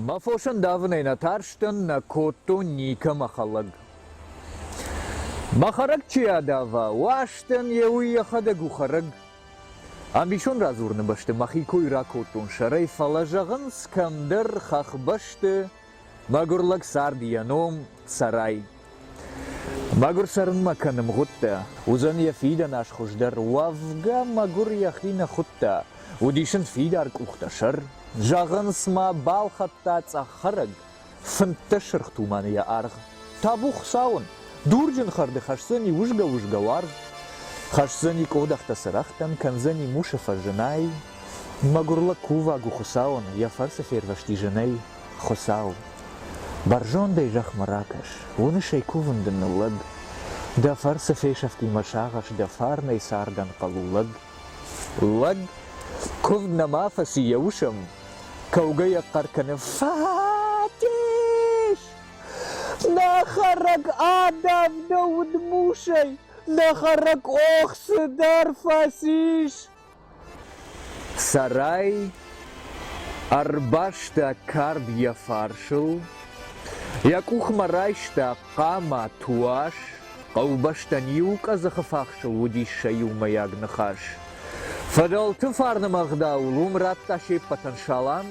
Мӕ фосӕн давынӕй нӕ тарстӕн, нӕ кодтон никӕмӕ хӕлӕг. Мӕ хӕрӕг чи адава, уастӕн йе уый йӕхӕдӕг у хӕрӕг. Ӕмбисонд радзурыны бӕсты мӕхи кой ракодтон сӕрӕй, фӕлӕ зӕгъынц, кӕмдӕр хӕхбӕсты Мӕгуыр лӕг цард йӕ ном, Цӕрай. Мӕгуыр цӕрынмӕ кӕны мгъуыдтӕ. Уыдзӕн йӕ фидӕн аз хуыздӕр. Уӕвгӕ, мӕгуыр йӕхи нӕ хуыдта. Уыдис ын фидар къухтӕсӕр. Зӕгъынц ма, балхӕдта цъӕх хӕрӕг, фынддӕс сырх туманы йӕ аргъ. Табу Хуыцауӕн, дурджын хӕрды хӕсдзӕни узгӕ-узгӕ уаргъ, хӕсдзӕни къодӕхтӕ цырӕгътӕн, кӕндзӕни мусы фӕзынӕй. Мӕгуыр лӕг кувӕг у Хуыцауӕн, йӕ фӕрцы фервӕзти зынӕй. Хуыцау, бӕрзондӕй зӕхмӕ ракӕс, уынысӕй кувын дын ныллӕг, дӕ фӕрцы фесӕфтимӕ сагъӕс дӕ фарнӕй цардӕн хъӕуы лӕг. Лӕг, куывд нӕма фӕци йӕ усӕм, кӕугӕ йӕ хъӕр кӕны, Фатис! Нӕ хӕрӕг адавд удмусӕй, нӕ хӕрӕг охсы дӕр фӕцис! Сӕрӕй ӕрбаста кард йӕ фарсыл, йӕ къухмӕ райста хъама туас, хъӕубӕстӕн иу къӕдзыхы фахсыл уыдис сӕ иумӕйаг ныхас. Фыдӕлты фарнымӕ ӕгъдауыл уым радта се ппӕтӕн салам,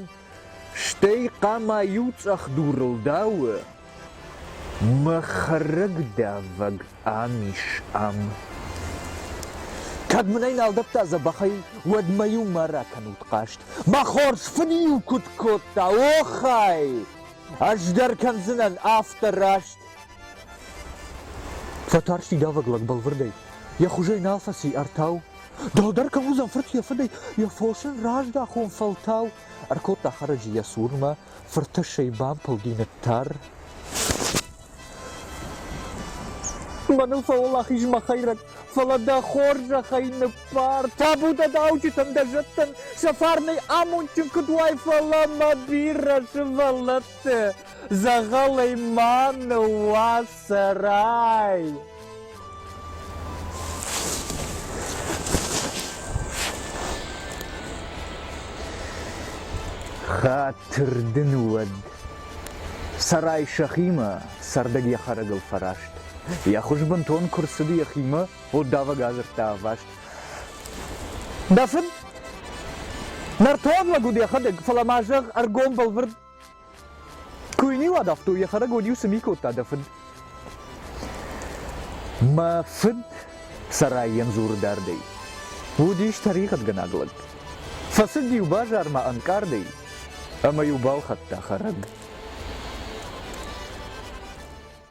стӕй хъама иу цъӕх дурыл дауы, Мӕ хӕрӕгдавӕг ам ис, ам. Кӕд мын ӕй нал дӕтта дзӕбӕхӕй, уӕд мӕ-иу ма ракӕнут хъаст. Мӕ хорз фыд-иу куыд кодта, охай! Ӕз дӕр кӕндзынӕн афтӕ раст. Фӕтарсти давӕг лӕг бӕлвырдӕй. Йӕ хуызӕй нал фӕци артау. Дӕлдӕр кӕм уыдзӕн фырт йӕ фыдӕй, йӕ фос ын раздахон фӕлтау. Ӕркодта хӕрӕджы йӕ цурмӕ, фыртӕссӕй бампылди ныттар. Мӕныл фӕуӕлахиз мӕ хӕйрӕг, фӕлӕ дӕ хорзӕхӕй ныббар. Табу дӕ дауджытӕн, дӕ зӕдтӕн, сӕ фарнӕй амондджын куыд уай, фӕлӕ мӕ бирӕ сывӕллӕтты дзӕгъӕлӕй ма ныууадз. Цӕрай! Хатыр дын уӕд. Цӕрай сӕхимӕ, цӕрдӕг йӕ хӕрӕгыл фӕраст. Йӕ хуыз бынтон куы рцыд йӕхимӕ, уддавӕг адзырдта ӕваст. Дӕ фыд? Нӕртон лӕг уыд йӕхӕдӕг, фӕлӕ ма зӕгъ ӕргом бӕлвырд. Куы йын уадавтой, йӕ хӕрӕг уӕд-иу цы ми кодта дӕ фыд? Мӕ фыд сарайӕн дзуры дардӕй. Уыдис тӕригъӕдгӕнаг лӕг. Фӕцыд-иу базармӕ ӕнкъардӕй ӕмӕ-иу балхӕдта хӕрӕг.